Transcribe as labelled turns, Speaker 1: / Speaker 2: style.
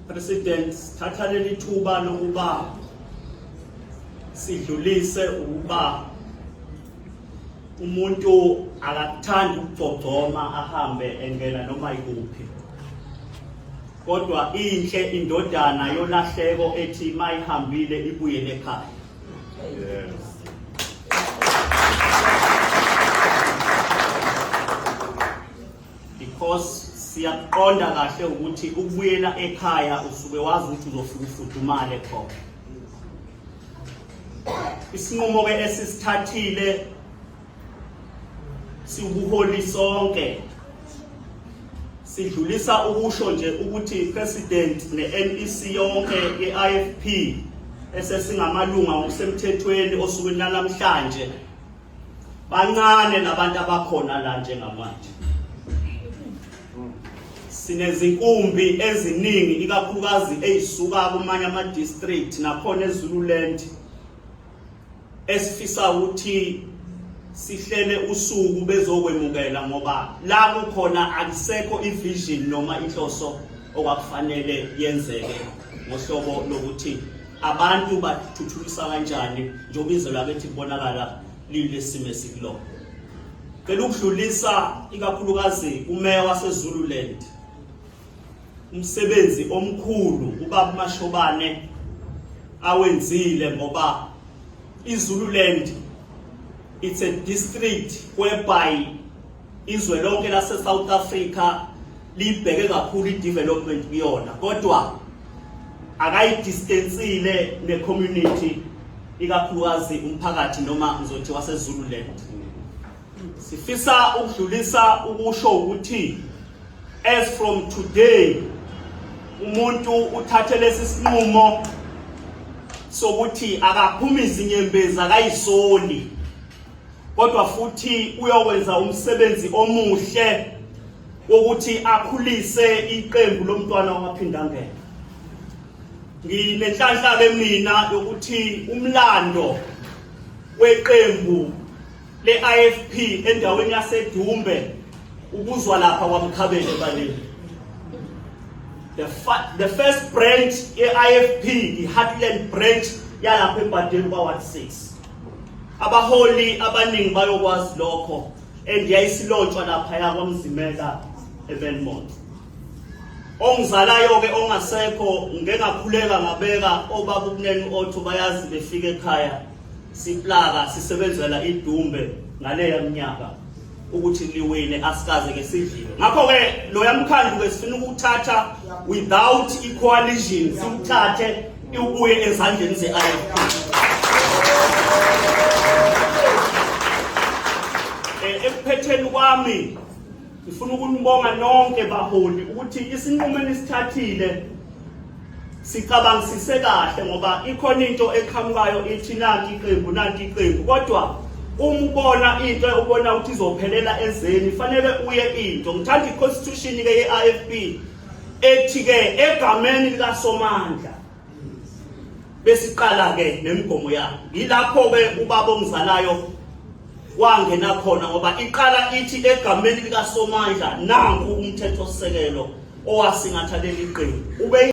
Speaker 1: President thatha leli thuba lokuba sidlulise ukuba umuntu akakuthandi ukugcogcoma ahambe engena noma ikuphi kodwa inhle indodana yolahleko ethi mayihambile ibuyele ekhaya because siyakuqonda kahle ukuthi ukubuyela ekhaya usuke wazi ukuthi uzofika ufudumale khona isinqumo ke esisithathile siwubuholi sonke sidlulisa ukusho nje ukuthi president ne-NEC yonke ye-IFP esesingamalunga ngokusemthethweni osukwini lanamhlanje bancane nabantu abakhona la njengamanje sinezinkumbi eziningi ikakhulukazi ezisuka kumanye ama district nakhona eZululand esifisa ukuthi sihlele usuku bezokwemukela ngoba la kukhona akusekho ivision noma inhloso okwakufanele yenzeke ngohlobo lokuthi abantu bathuthukisa kanjani njengoba izwe lakithi libonakala lilesimo esikulona cela ukudlulisa ikakhulukazi umeya wasezululand umsebenzi omkhulu ubaba mashobane awenzile ngoba izululand it's a district whereby Izwe lonke lase South Africa libheke kakhulu i-development kuyona kodwa akayidistensile ne-community ikakhulukazi umphakathi noma ngizothi wasezululand sifisa ukudlulisa ukusho ukuthi as from today umuntu uthathe lesi sinqumo sokuthi akaphumi izinyembezi akayisoli kodwa futhi uyowenza umsebenzi omuhle wokuthi akhulise iqembu lomntwana wamaphindangene nginenhlanhla lemina yokuthi umlando weqembu le-IFP endaweni yaseDumbe ukuzwa lapha kwamkhabeni ebaleni the, the first branch ye-IFP i-Heartland branch yalapha ebhadeni kwa-1 6 abaholi abaningi bayokwazi lokho and yayisilotshwa lapha yakwamzimela ebenmont ongizalayo-ke ongasekho ngengakhuleka ngabeka obaba ukuneni otho bayazi befika ekhaya siplaka sisebenzela idumbe ngaleya mnyaka ukuthi liwine asikaze ke sidliwe ngakho ke loya mkhandlu ke sifuna ukuthatha without equalition siwuthathe iwubuye ezandleni ze-IFP eh, ekuphetheni kwami ngifuna ukunibonga nonke baholi ukuthi isinqumo enisithathile sicabangisise kahle ngoba ikhona into eqhamukayo ithi nanti iqembu nanti iqembu kodwa uma ubona into ubona ukuthi izophelela ezeni fanele uye into ngithanda i-constitution ke ye-IFP ethi ke egameni likasomandla besiqala ke nemigomo yakhe yilapho ke ubaba ongizalayo wangena khona ngoba iqala ithi egameni likasomandla nangu umthetho sisekelo owasingatha leli qembu ube